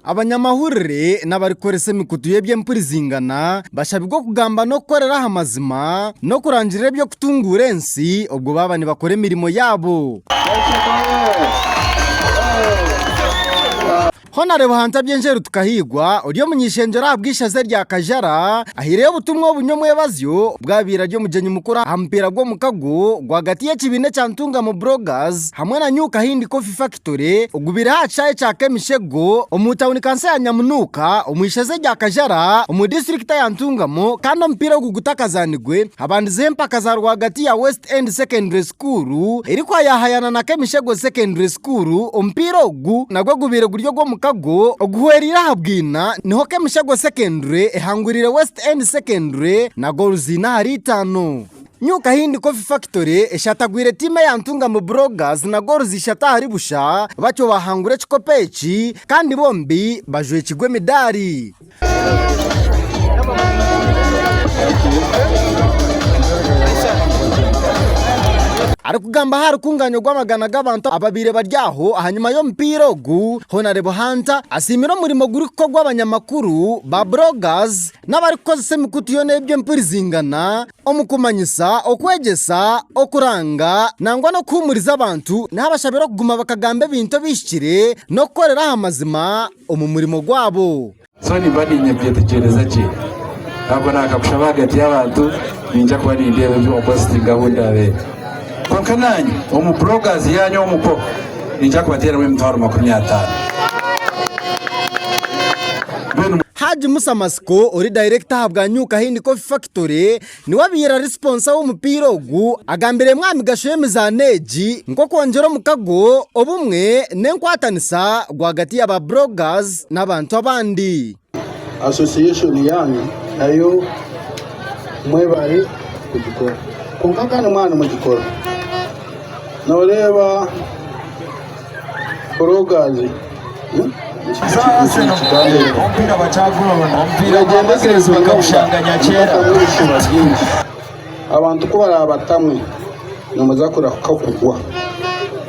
Abanyamahurire n'abarikukoresa emikutu y'eby'empurizingana bashabirwe okugamba n'okukorera aha mazima n'okurangirira eby'okutunguura ensi obwo baaba nibakora emirimo yaabo. Hon Hunter Byenjeru Tukahairwa ori omuny'eishengyero ahabw'eishaza erya Kajara ahaireyo obutumwa oburi omwebazyo obwo abaire ari omugyenyi mukuru aha mupiira gw'omukago rwagati y'ekibiina ekya Ntungamo Broggers hamwe na New Kahindi Coffee. Cement Factory ogubire aha kishaayi kya Kemishego omu tauni kanso ya Nyamunuuka omu ishoza erya Kajara omu disiturikita ya Ntungamo kandi omupiira ogu gutakazaanirwe habandizeho empaka za rwagati ya West End Secondary School erikwayahayana na Kemishego Secondary School. Omupiira ogu nagwo gubaire guri ogw'omukago oguhwereire aha bwina niho Kemishego Secondary ehangwiriire West End Secondary na goolo ziine ahari itaano. Nyowe ka hindi Coffee Factory eshatagwire tiimu eya Ntungamo Broggers na Goals ishatu ahari busha batyo baahangura ekikopo eki kandi bombi bajwekirwe emidaari. Arikugambaho aha rukungaanya orw'amagana g'abantu ababaire bari aho ahanyima y'omupiira ogu, Honarebo Hunter asiimire omurimo gurikukorwa abanyamakuru ba Broggers n'abarikukoresa emikutu yoona ey'eby'empurizingana, Omu kumanyisa, okwegyesa, okuranga, nangwa n'okuhuumuriza abantu, naabashabira okuguma bakagamba ebintu ebihikire n'okukorera aha mazima omu murimo gwabo. So nimba niinyija kukyetegyereza gye. Naakuba naakakushaba ahagati y'abantu, niinyija kuba nindeeba ebi opositinga ahu ndaabeere. Kwonka naanye omu bloggers yaanyu omu ko niija kubateeramu emitwaro makumi ataano. Mbwenu. Hajj Musa Masiko ori dayirekita ahabwa New Kahindi Coffee Factory niwe abaire ari siponsa w'omupiira ogu agambiremu aha migasho y'emizaano egi nk'okwongyera omukago, obumwe n'enkwatanisa rwagati ya ba Bloggers n'abantu abandi. Association yaanyu nayo mwebare kugikora. Kwonka kandi mwaba nimugikora, nooreeba bloggers, beegyendese ebizibu n'obushambani. Abantu ku baraabatamwe, nimuza kurahika kugwa.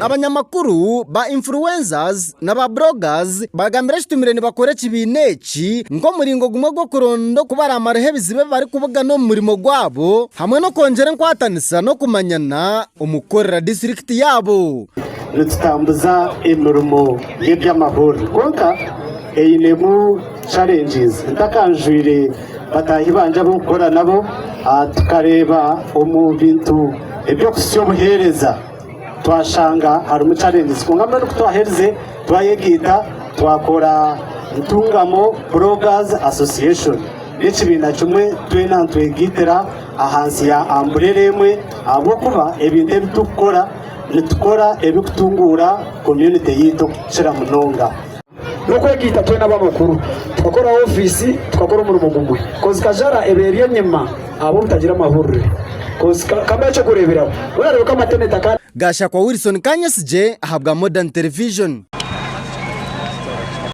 Abanyamakuru, ba influencers na ba bloggers baragambira ekitumire nibakora ekibiina eki nk'omuringo gumwe gw'okuronda oku baraamaraho ebizibu ebi barikubugana omu murimo gwabo hamwe n'okwongyera enkwatanisa n'okumanyana omu kukorera disiturikiti yaabo. Nitutambuza emirimo y'eby'amahurire kwonka einemu challenges. Ntakanjwire. bataahi bangye abu nkukora nabo, tukareeba omu bintu eby'okuhitsya obuheereza twashanga harimu challenges. Kwonka mbwenu ku twaherize twayegaita twakora Ntungamo Bloggers Association. N'ekibiina kimwe twena nitwegaitira ahansi ya amburera emwe ahabw'okuba ebintu ebi turikukora nitukora ebirikutunguura community yaitu kukira munonga. N'okwegaita twena ab'amakuru tukakoraho ofiisi tukakora omurimo gumwe. Kozi kajara eba eri enyima abo obutagira amahurire. Kozi ka, kambahe eky'okureeberaho. Mbwenu areebe ku amateneti aka. Gashakwa Wilson Kanyesigye ahabwa Modern Television.